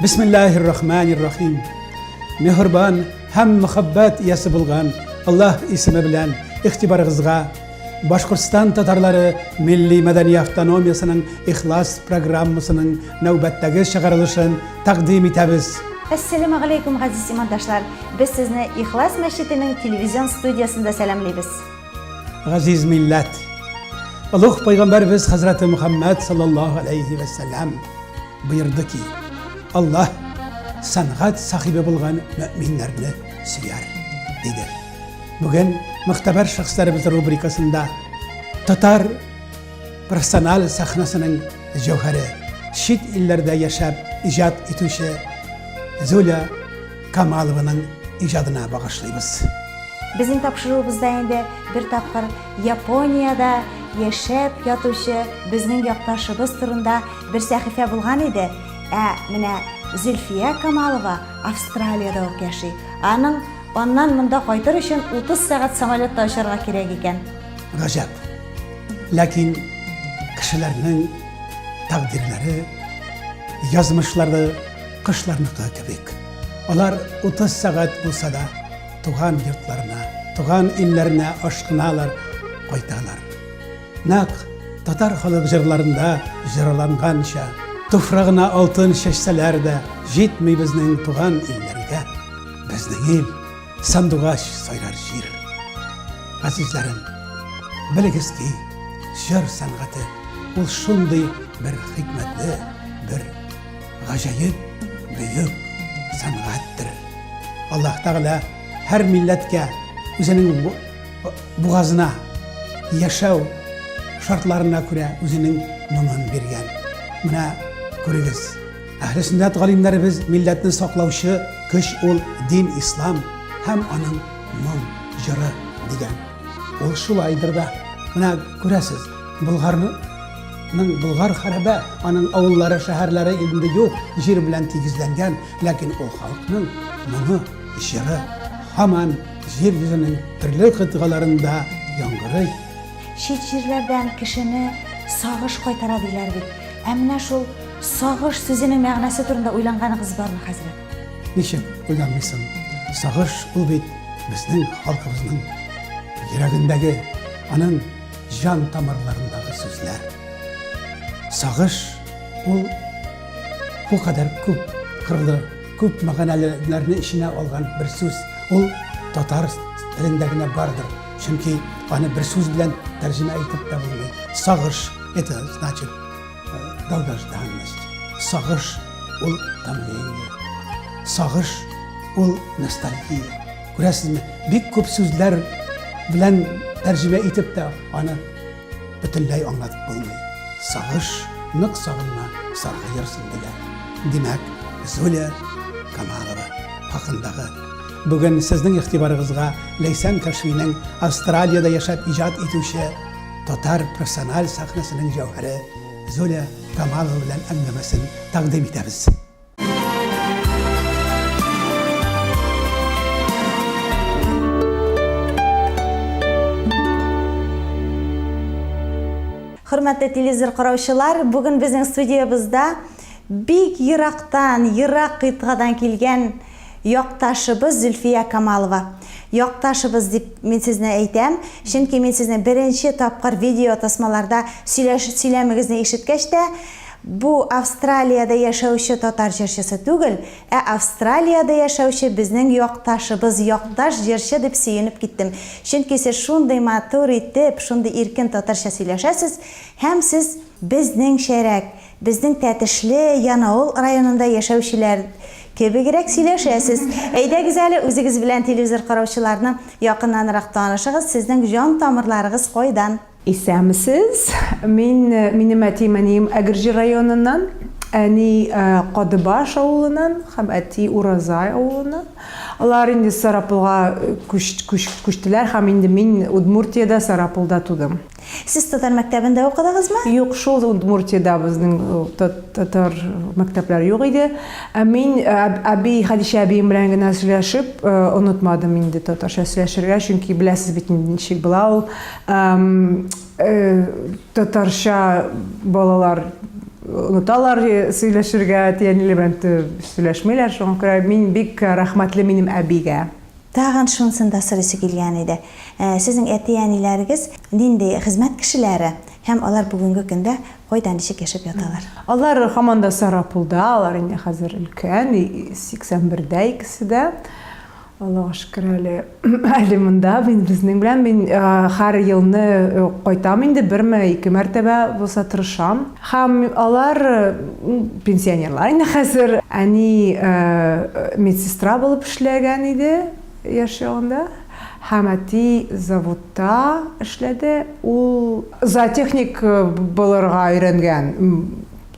бисмиллахир рахманир рахим мехрибан һәм мөхәббәт иясе булган аллаһ исеме белән игътибарыгызга башкортстан татарлары милли мәдәни автономиясенең ихлас программасының нәүбәттәге чыгарылышын тәкъдим итәбез Әссәләмә галәйкүм, газиз имандашлар! Без сезне Ихлас мәчетенең телевизион студиясендә сәламлибез. Газиз милләт! Олуг пайгамбарыбыз хәзрәте Мөхәммәд саллаллаһу алейхи вә сәллам боерды ки, Аллаһ сәнгать сахибе булган мөэминнәрне сөяр, диде. Бүген мөхтәбәр шәхесләребез рубрикасында татар профессиональ сәхнәсенең җәүһәре, чит илләрдә яшәп иҗат итүче Зуля Камалованың иҗадына багышлыйбыз. Безнең тапшыруыбызда инде бер тапкыр Япониядә яшәп ятучы безнең якташыбыз турында бер сәхифә булган иде. Ә менә Зөлфия Камалова Австралиядә үк яши. Аның аннан монда кайтыр өчен 30 сәгать самолетта очарга кирәк икән. Гаҗәп. Ләкин кешеләрнең тәкъдирләре, язмышлары Кошларныкы кебек, алар 30 сәгать булса да туган йортларына, туган илләренә ашкыналар, кайталар. Нәкъ татар халык җырларында җырланганча, туфрагына алтын чәчсәләр дә җитми безнең туган илләргә. Безнең ил сандугач сайрар җир. Азизләрем, белегез ки, җыр сәнгате ул шундый бер хикмәтле, бер Гаҗәеп бөек сәнгатьтер. Аллаһ Тәгалә һәр милләткә үзенең бугазына яшәү шартларына күрә үзенең моңын биргән. Менә күрегез. Әһле сөннәт галимнәребез милләтне саклаучы көч ул дин ислам һәм аның моң җыры дигән. Ул шулайдыр да. Менә күрәсез. Болгарның Болгар хәрәбә, аның авыллары, шәһәрләре инде юк, җир белән тигезләнгән, ләкин ул халыкның моңы, җыры һаман җир йөзенең төрле кытгаларында яңгырый. Чит җирләрдән кешене сагыш кайтара диләр бит. Ә менә шул сагыш сүзенең мәгънәсе турында уйланганыгыз бармы, хәзрәт? Ничек уйланмыйсың? Сагыш ул бит безнең халкыбызның йөрәгендәге, аның Җан тамырларындагы сүзләр. Сагыш ул бу кадәр күп кырлы, күп мәгънәлеләрне эченә алган бер сүз. Ул татар телендә генә бардыр. Чөнки аны бер сүз белән тәрҗемә итеп тә булмый. Сагыш это значит долгожданность. Сагыш ул томление. Сагыш ул ностальгия. Күрәсезме, бик күп сүзләр белән тәрҗемә итеп тә аны бөтенләй аңлатып булмый. Сагыш, нык сагынма, саргы йөрсен диләр. Димәк, Зуля Камалова хакындагы бүген сезнең игътибарыгызга Ләйсән Кәшинең Австралиядә яшәп иҗат итүче Татар профессиональ сәхнәсенең җәүһәре Золя Камалова белән әңгәмәсен тәкъдим итәбез. Хөрмәтле телевизор караучылар, бүген безнең студиябызда бик ерактан, ерак кыйтгадан килгән Якташыбыз Зөлфия Камалова. Якташыбыз дип мин сезне әйтәм, чөнки мин сезне беренче тапкыр видеотасмаларда сөйләш, сөйләмегезне ишеткәч тә, бу Австралиядә яшәүче татар җырчысы түгел, ә Австралиядә яшәүче безнең якташыбыз, якташ җырчы дип сөенеп киттем. Чөнки сез шундый матур итеп, шундый иркен татарча сөйләшәсез һәм сез безнеңчәрәк, Безнең Тәтешле, Янаул районында яшәүчеләр кебегрәк сөйләшәсез. Әйдәгез әле, үзегез белән телевизор караучыларны якыннанрак танышыгыз, сезнең җан тамырларыгыз кайдан? Исәнмесез. Мин, минем әтием-әнием Әгерҗе районыннан. Әни Кадыбаш авылыннан һәм әти Уразай авылыннан. Алар инде Сарапулга күчтеләр һәм инде мин Удмуртиядә, Сарапулда тудым. Сез татар мәктәбендә укыдыгызмы? Юк, шул Удмуртиядә безнең татар мәктәпләре юк иде. Ә мин әби, Хәдичә әбием белән генә сөйләшеп, онытмадым инде татарча сөйләшергә, чөнки беләсез бит ничек була ул. Татарча балалар оныталар сөйләшергә, әти-әниләре белән сөйләшмиләр, шуңа күрә мин бик рәхмәтле минем әбигә. Тагын шунысын да сорыйсы килгән иде, Сезнең әти-әниләрегез нинди хезмәт кешеләре һәм алар бүгенге көндә кайда, ничек яшәп яталар? Алар һаман да Сарапулда, алар инде хәзер өлкән, 81 дә икесе дә. Аллага шөкер, әле әле монда, мин безнең белән. Мин һәр елны кайтам инде, берме, ике мәртәбә булса тырышам. Һәм алар, пенсионерлар инде хәзер. Әни медсестра булып эшләгән иде яшь чагында. Һәм әти заводта эшләде. Ул зоотехник булырга өйрәнгән,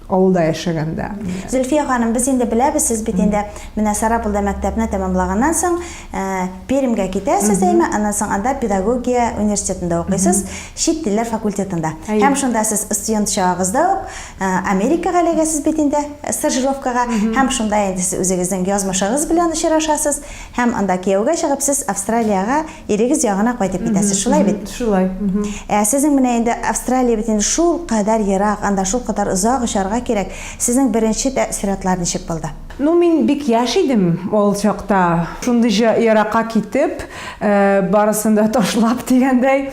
авылда яшәгәндә. Зөлфия ханым, без инде беләбез, сез бит инде менә Сарапулда мәктәпне тәмамлаганнан соң, Ә, Пермьгә китәсез, әйме, аннан соң анда педагогия университетында укыйсыз, чит телләр факультетында. Һәм шунда сез студент чагыгызда ук Америкага эләгәсез бит инде стажировкага, һәм шунда инде сез үзегезнең язмышыгыз белән очрашасыз, һәм анда кияүгә чыгып, сез Австралиягә, ирегез ягына кайтып китәсез, шулай бит? Шулай. Ә сезнең менә инде Австралия бит инде шулкадәр ерак, анда шулкадәр озак очарга кирәк, сезнең беренче тәэссоратлар ничек булды? Ну мин бик яшь идем ул чакта, шундый җа еракка китеп, барысын да ташлап дигәндәй.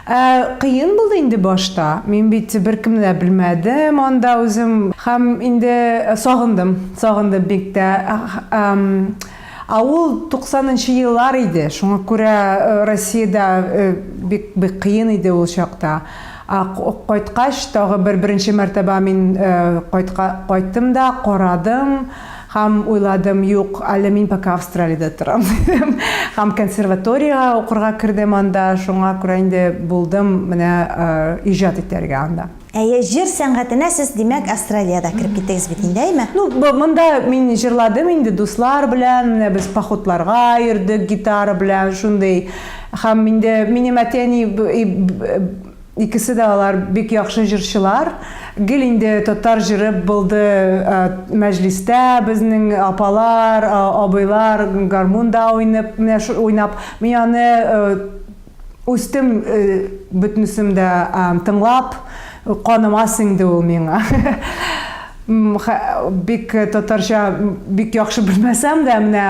Ә кыен булды инде башта, мин бит беркемне дә белмәдем анда үзем һәм инде сагындым, сагындым бик тә. Ә ул туксанынчы еллар иде, шуңа күрә Россиядә бик бик кыен иде ул чакта. Ә кайткач, тагы бер беренче мәртәбә мин кайтка кайттым да, карадым һәм уйладым, юк, әле мин пока Австралиядә торам, дидем. Һәм консерваториягә укырга кердем анда, шуңа күрә инде булдым менә иҗат итәргә анда. Әйе, җыр сәнгатенә сез, димәк, Австралиядә кереп киттегез бит инде, әйме? Ну, монда мин җырладым инде дуслар белән, менә без походларга йөрдек гитара белән, шундый. Һәм инде минем әти-әни икесе дә алар бик яхшы җырчылар. Гел инде татар җыры булды мәҗлистә, безнең апалар, абыйлар гармунда уйнып, менә шул уйнап, мин аны үстем бөтенесен дә тыңлап, каныма сеңде ул миңа. Бик татарча бик яхшы белмәсәм дә, менә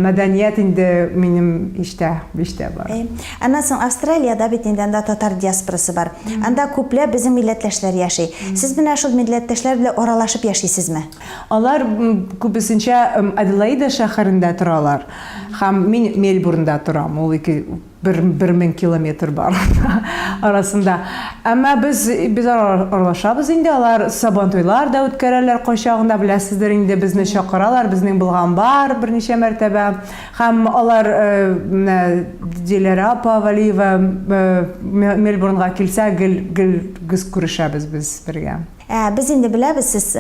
мәдәният инде минем иштә, биштә бар. Аннан соң Австралиядә бит инде анда татар диаспорасы бар. Анда күпләп безнең милләттәшләр яши. Сез менә шул милләттәшләр белән аралашып яшисезме? Алар күбесенчә Аделаида шәһәрендә торалар һәм мин Мельбурнда торам. Ул ике бер, бер мең километр бар арасында. Әмма без, без аралашабыз инде, алар сабантуйлар да үткәрәләр кайчагында, беләсездер инде, безне чакыралар, безнең булган бар берничә мәртәбә. Һәм алар, менә Диләрә апа Валиева Мельбурнга килсә, гел, гел, гел күрешәбез без бергә. Ә без инде беләбез, сез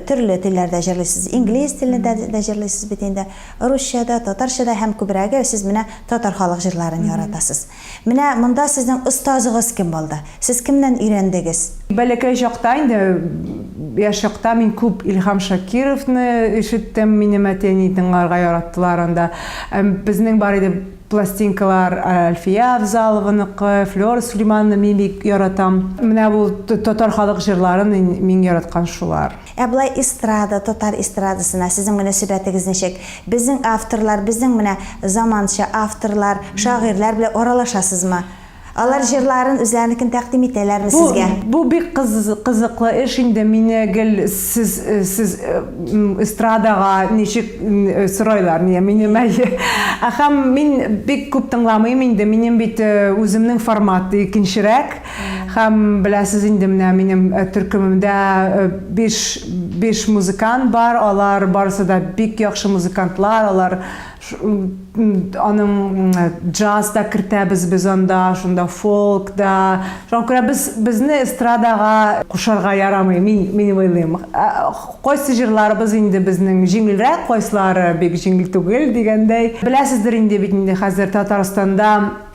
төрле телләрдә җырлыйсыз. Инглиз телендә дә җырлыйсыз бит инде, русча да, татарча да һәм күбрәге сез менә татар халык җырларын яратасыз. Менә монда сезнең остазыгыз кем булды? Сез кемнән өйрәндегез? Бәләкәй чакта инде, яшь чакта мин күп Илһам Шакировны ишеттем, минем әти-әни тыңларга яраттылар анда. Безнең бар иде Пластинкалар Әлфия Авзалованыкы, Флера Сулеймановны мин бик яратам. Менә бу татар халык җырларын мин яраткан шулар. Ә болай эстрада, татар эстрадасына сезнең мөнәсәбәтегез ничек? Безнең авторлар, безнең менә заманча авторлар, шагыйрьләр белән аралашасызмы? Алар җырларын, үзләренекен тәкъдим итәләрме Бу, сезгә? бу бик кыз, кызыклы эш инде. Мине гел сез, сез м, эстрадага ничек м, сорайлар, нигә минем әйе. Ә Һәм мин бик күп тыңламыйм инде, минем бит э, үземнең формат икенчерәк. Һәм беләсез инде менә минем э, төркемемдә э, биш, биш музыкант бар, алар барысы да бик яхшы музыкантлар, алар Аның джаз да кертәбез без анда, шунда фолк да. Шуңа күрә без безне эстрадага кушарга ярамый, мин мин уйлыйм. Кайсы җырларыбыз инде безнең җиңелрәк, кайсылары бик җиңел түгел дигәндәй. Беләсездер инде бит инде хәзер Татарстанда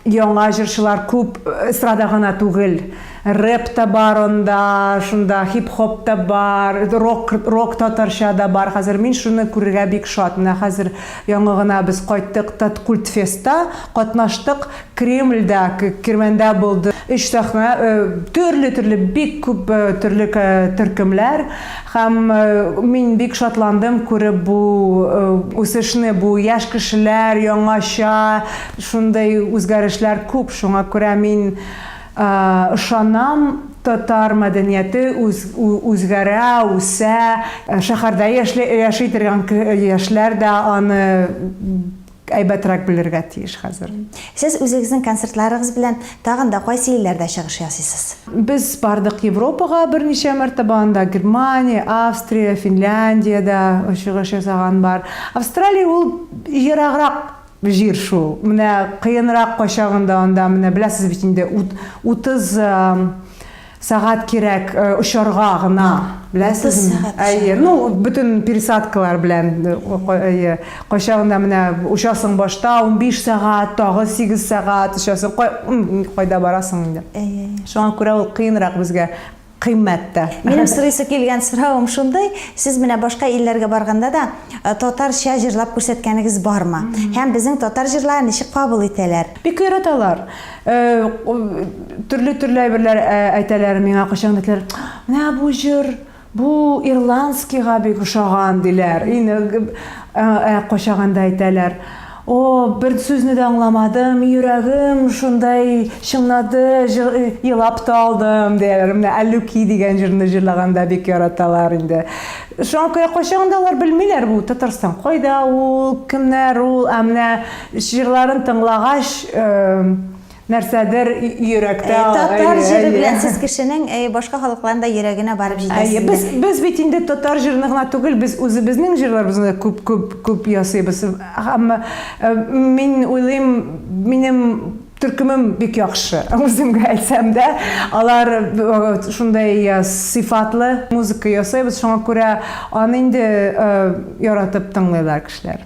Яңа җырчылар күп, эстрада гына түгел. Рэп та бар анда, шунда хип-хоп та бар, рок, рок татарча да бар хәзер. Мин шуны күрергә бик шат. Менә хәзер яңа гына без кайттык Таткультфестта катнаштык. Кремльдә, Кермәндә булды. Өч сәхнә, төрле-төрле, бик күп төрле төркемләр. Һәм мин бик шатландым күреп бу үсешне, бу яшь кешеләр, яңача. Шундый үзгәрешләр күп, шуңа күрә мин ышанам, татар мәдәнияте үзгәрә, үсә. Шәһәрдә яшли, яши торган яшьләр дә аны әйбәтрәк белергә тиеш хәзер. Сез үзегезнең концертларыгыз белән тагын да кайсы илләрдә чыгыш ясыйсыз? Без бардык Европага берничә мәртәбә, анда Германия, Австрия, Финляндиядә чыгыш ясаган бар. Австралия ул ераграк. Җир шул. Менә кыенрак кайчагында анда, менә беләсез бит инде, ут, утыз сәгать кирәк очарга гына. Беләсезме? Әйе, ну, бөтен пересадкалар белән, әйе. Кайчагында менә очасың башта, унбиш сәгать, тагы сигез сәгать очасың, кайда барасың инде. Әйе, әйе. Шуңа күрә ул кыенрак безгә. кыйммәт тә. Минем сорыйсы килгән соравым шундый, сез менә башка илләргә барганда да э, татарча җырлап күрсәткәнегез бармы? Һәм безнең татар җырларын ничек кабул итәләр? Бик яраталар. Э, төрле төрле әйберләр э, әйтәләр миңа кайчан әйтәләр, менә бу җыр бу ирландскийга бик ошаган диләр. Инде кайчаганда әйтәләр. О, бер сүзне дә аңламадым, йөрәгем шундай чыңлады, елап та алдым, дияләр. Менә Әллүки дигән җырны җырлаганда бик яраталар инде. Шуңа күрә кайчагында алар белмиләр бу Татарстан кайда ул, кемнәр ул, ә менә җырларын тыңлагач, нәрсәдер йөрәктә э, татар җире белән сез кешенең э, башка халыкларның да йөрәгенә барып җитәсез без без бит инде татар җырын гына түгел без үзебезнең җырларыбызны да күп күп күп ясыйбыз һәм э, мин уйлыйм минем төркемем бик яхшы үземгә әйтсәм дә алар шундай сыйфатлы музыка ясыйбыз шуңа күрә аны инде яратып тыңлыйлар кешеләр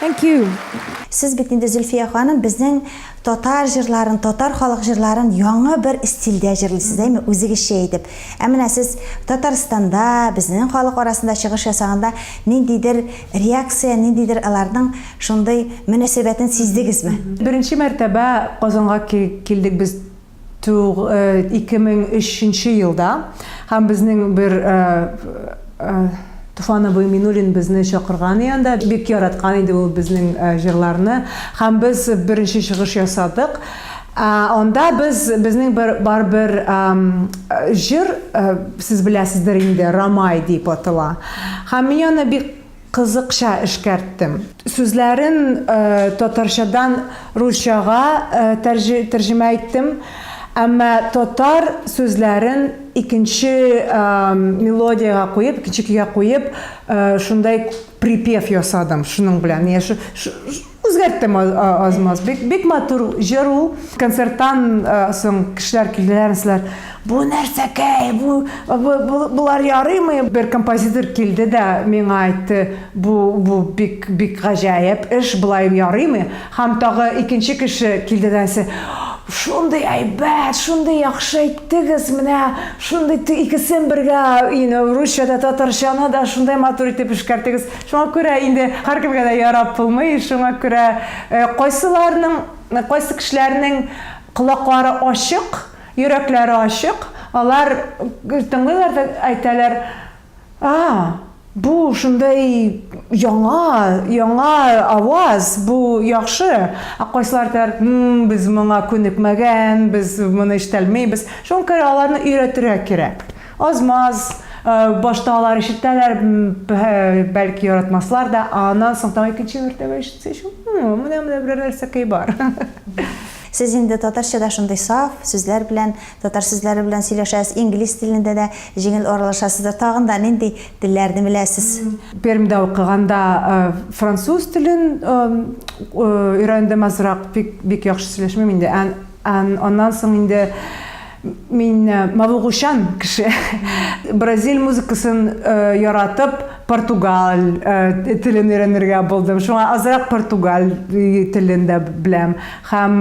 Thank you. Сез бит инде Зөлфия ханым безнең татар җырларын, татар халык җырларын яңа бер стильдә җырлыйсыз, әйме, үзегезчә итеп. Ә менә сез Татарстанда, безнең халык арасында чыгыш ясаганда ниндидер реакция, ниндидер аларның шундый мөнәсәбәтен сиздегезме? Беренче мәртәбә Казанга килдек без Туг 2003 нче елда һәм безнең бер Туфан абый Минуллин безне чакырган иде анда. Бик яраткан иде ул безнең җырларны һәм без беренче чыгыш ясадык. Анда без безнең бер бар бер җыр, сез беләсездер инде, Рамай дип атала. Һәм мин аны бик Кызыкча эшкәрттем. Сүзләрен татарчадан русчага тәрҗемә иттем. Әмма татар сүзләрен икенче мелодиягә куеп, икенче көйгә куеп, шундай припев ясадым шуның белән. Үзгәрттем аз-маз. Бик, бик матур җыр ул. Концерттан соң кешеләр килделәр, диләр, бу нәрсәкәй, бу, бу, болар ярыймы? Бер композитор килде дә миңа әйтте, бу, бу бик, бик гаҗәеп эш, болай ярыймы? Һәм тагы икенче кеше килде дә әйтте, шундый әйбәт, шундый яхшы әйттегез, менә шундый икесен бергә, you know, русча да, татарчаны да шундый матур итеп эшкәрттегез. Шуңа күрә инде һәркемгә дә ярап булмый, шуңа күрә кайсыларның, кайсы кешеләрнең колаклары ачык, йөрәкләре ачык, алар тыңлыйлар да әйтәләр, А, бу шундый яңа, яңа аваз, бу яхшы, ә кайсылар әйтәләр, М-м, без моңа күнекмәгән, без моны ишетәлмибез. Шуңа күрә аларны өйрәтергә кирәк. Аз-маз, башта алар ишетәләр, бәлки яратмаслар да, ә аннан соң тагын икенче мәртәбә ишетсә, менә менә берәр нәрсәкәй бар. Сез инде татарчада шундый саф сүзләр белән, татар сүзләре белән сөйләшәсез, инглиз телендә дә җиңел аралашасыздыр. Тагын да нинди телләрне беләсез? Пермьдә укыганда француз телен өйрәндем азрак, бик яхшы сөйләшмим инде. Аннан соң инде Мин э, мавыгучан кеше. Бразиль музыкасын э, яратып, португаль э, телен өйрәнергә булдым. Шуңа азрак португаль телен дә беләм. Һәм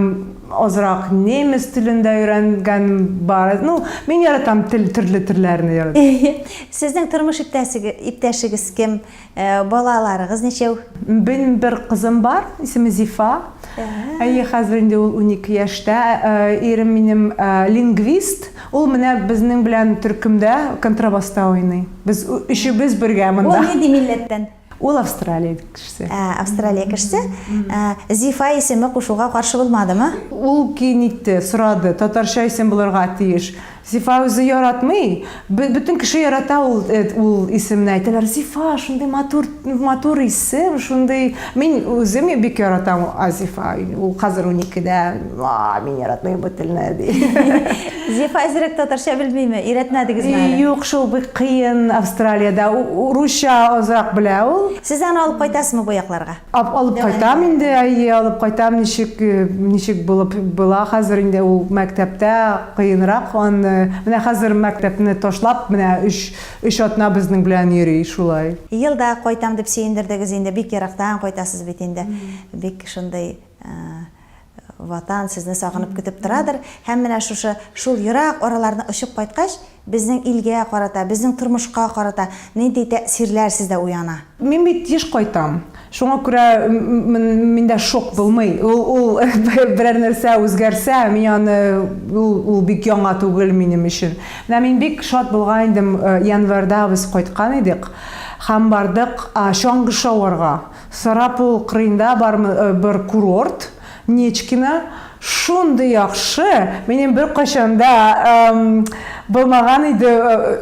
азрак немец телен дә өйрәнгән бар. Ну, мин яратам тел төрле телләрне яратам. Сезнең тормыш иптәшегез кем? Ә балаларыгыз ничәү? Бен бер кызым бар, исеме Зифа. Әйе, хәзер инде ул унике яшьтә. Ирем минем лингвист. Ул менә безнең белән төркемдә контрабаста уйный. Без өчебез бергә монда. Ул нинди милләттән? Ул Австралия кешесе. Ә, Австралия кешесе. Зифа исеме кушуга каршы булмадымы? Ул кин итте, сорады. Татарча исем булырга тиеш. Зифа үзе яратмый, бөтен кеше ярата ул ул исемне, әйтәләр, Зифа, шундый матур, матур исем, шундый, мин үзем бик яратам Азифа, ул хәзер уникедә, мин яратмыйм бу телне, ди. Зифа әзрәк татарча белмиме, өйрәтмәдегезме әле? Юк, шул бик кыен Австралиядә, русча азрак белә ул. Сез аны алып кайтасызмы бу якларга? Ап, алып кайтам инде, әйе, алып кайтам, ничек, ничек булып була хәзер инде ул мәктәптә кыенрак аны, менә хәзер мәктәпне ташлап, менә өч, өч атна безнең белән йөри шулай. Елда кайтам дип сөендердегез инде, бик ерактан кайтасыз бит инде, бик шундый, Ватан сезне сагынып көтеп торадыр һәм менә шушы шул ерак араларны очып кайткач, безнең илгә карата, безнең тормышка карата нинди тәэсирләр сездә уяна? Мин бит еш кайтам. Шуңа күрә миндә шок булмый. Ул берәр нәрсә үзгәрсә, мин аны, ул бик яңа түгел минем өчен. Менә мин бик шат булган идем, январьда без кайткан идек һәм бардык чаңгы шауарга. Сарапул кырыенда бармы бер курорт, Нечкино, шундый яхшы, минем беркайчанда булмаган иде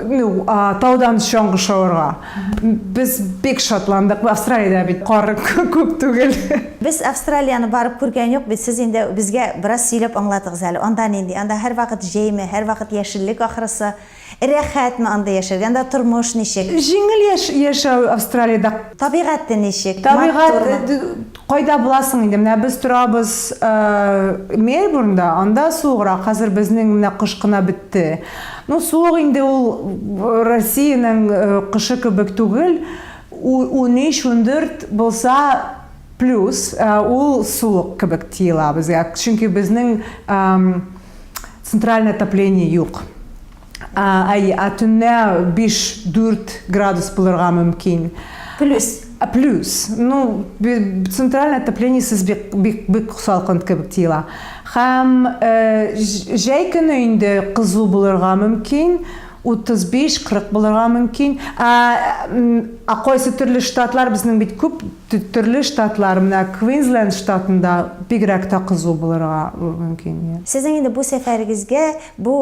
ну таудан чаңгы шавырга. Без бик шатландык, Австралиядә бит кар күп түгел. Без Австралияны барып күргән юк бит, сез инде безгә бераз сөйләп аңлатыгыз әле, анда нинди, анда һәрвакыт җәйме, һәрвакыт яшеллек ахрысы? Рәхәтме анда яшәргә? Анда тормыш ничек? Җиңел яшәү Австралиядә. Табигате ничек? Табигать, кайда буласың инде, менә без торабыз Мельбурнда, анда суыграк, хәзер безнең менә кыш кына бетте. Ну, суык инде ул Россиянең кышы кебек түгел, унөч, ундүрт булса, плюс, ул суык кебек тоела безгә, чөнки безнең. Центральное отопление юк. Әйе, ә төнлә 5-4 градус булырга мөмкин. Плюс. Ә плюс. Ну, центральное отопление сез бик бик бик салкын кебек тиела. Хәм э, җәй көне инде кызу булырга мөмкин. 35-40 булырга мөмкин. Ә, ә кайсы төрле штатлар безнең бит күп Төрле штатлар, менә Квинсленд штатында бигрәк тә кызу булырга мөмкин. Сезнең инде бу сәфәрегезгә, бу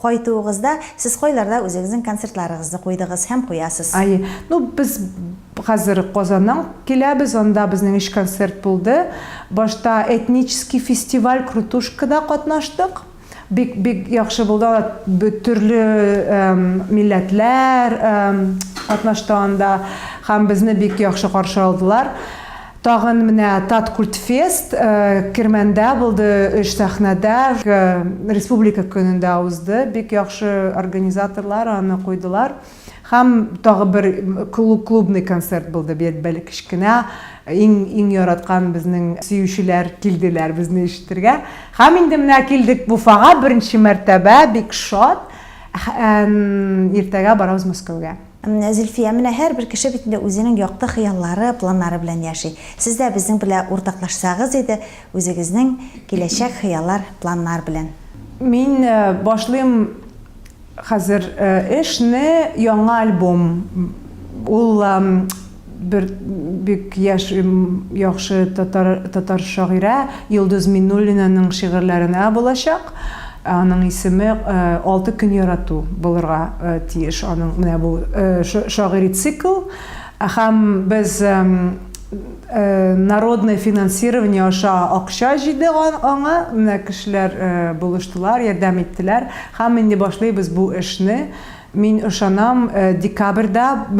кайтуыгызда сез кайларда үзегезнең концертларыгызны куйдыгыз һәм куясыз? Әйе. Ну, без хәзер Казаннан киләбез, анда безнең өч концерт булды. Башта этнический фестиваль Крутушкада катнаштык. Бик бик яхшы булды анда б- төрле эм, милләтләр эм, катнашты анда һәм безне бик яхшы каршы алдылар. Тагын менә Таткультфест э, Кермәндә булды, өч сәхнәдә э, республика көнендә узды. Бик яхшы организаторлар аны куйдылар. Һәм тагы бер клубный концерт булды, бер кечкенә, иң-иң яраткан безнең сөючеләр килделәр безне ишетергә. Һәм инде менә килдек Уфага, беренче мәртәбә, бик шат. Иртәгә барабыз Мәскәүгә. Зөлфия, менә һәрбер кеше бит инде үзенең якты хыяллары, планнары белән яши. Сез дә безнең белә уртаклашсагыз иде, үзегезнең киләчәк хыяллар, планнар белән. Мин башлыйм Хәзер эш не яңа альбом ул бер бик яшь яхшы татар шагыйрә Йолдыз Миннуллинаның шигырьләренә булачак аның исеме алты көн ярату булырга тиеш аның менә бу шагыйри цикл Һәм без народное финансирование аша акча җыйдык аңа, менә кешеләр булыштылар, ярдәм иттеләр. Һәм инде башлыйбыз бу эшне. Мин ышанам, декабрьдә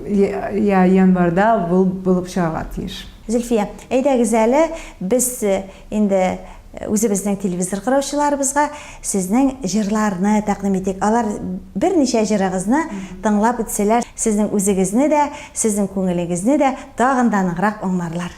я январьда ул булып чыгарга тиеш. Зөлфия, әйдәгез әле, без Инде үзебезнең телевизор караучыларыбызга сезнең җырларны тәкъдим итик. Алар берничә җырыгызны тыңлап үтсәләр, сезнең үзегезне дә, сезнең күңелегезне дә тагын да ныграк аңларлар.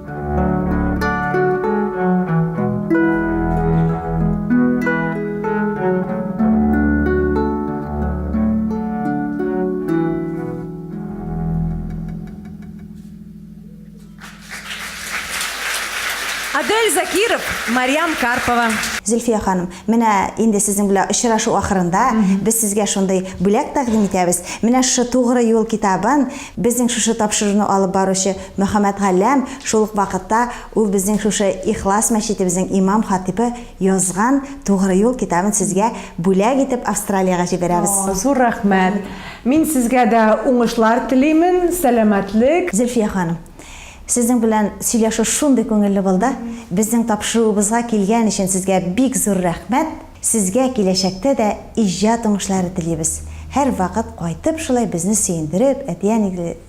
Марьям Карпова. Зөлфия ханым, менә инде сезнең белән очрашу ахырында без сезгә шундый бүләк тәкъдим итәбез. Менә шушы Тугры юл китабын безнең шушы тапшыруны алып баручы Мөхәммәтгалләм, шул ук вакытта ул безнең шушы Ихлас мәчетебезнең имам-хатыйбы язган Тугры юл китабын сезгә бүләк итеп Австралиягә җибәрәбез. О, зур рәхмәт! Мин сезгә дә уңышлар телимен, сәламәтлек. Зөлфия ханым, сезнең белән сөйләшү шундый күңелле булды. Безнең тапшыруыбызга килгән өчен сезгә бик зур рәхмәт. Сезгә киләчәктә дә иҗат уңышлары телибез. Һәрвакыт кайтып шулай безне сөендереп, әти-әнигезне.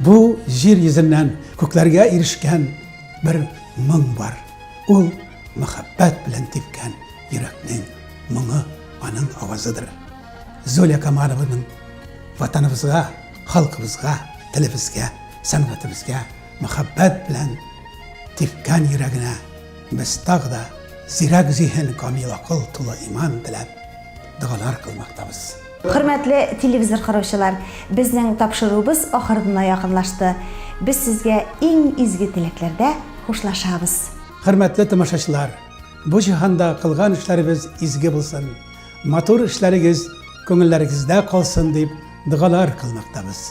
Бу җир йөзеннән күкләргә ирешкән бер моң бар. Ул мәхәббәт белән типкән йөрәкнең моңы, аның авазыдыр. Золя Камалованың ватаныбызга, халкыбызга, телебезгә, сәнгатебезгә мәхәббәт белән типкән йөрәгенә без тагы да зирәк зиһен, камил акыл, тулы иман теләп догалар кылмактабыз. Хөрмәтле телевизор караучылар, безнең тапшыруыбыз ахырына якынлашты. Без сезгә иң изге теләкләрдә хушлашабыз. Хөрмәтле тамашачылар, бу җиһанда кылган эшләребез изге булсын, матур эшләрегез күңелләрегездә калсын дип догалар кылмактабыз.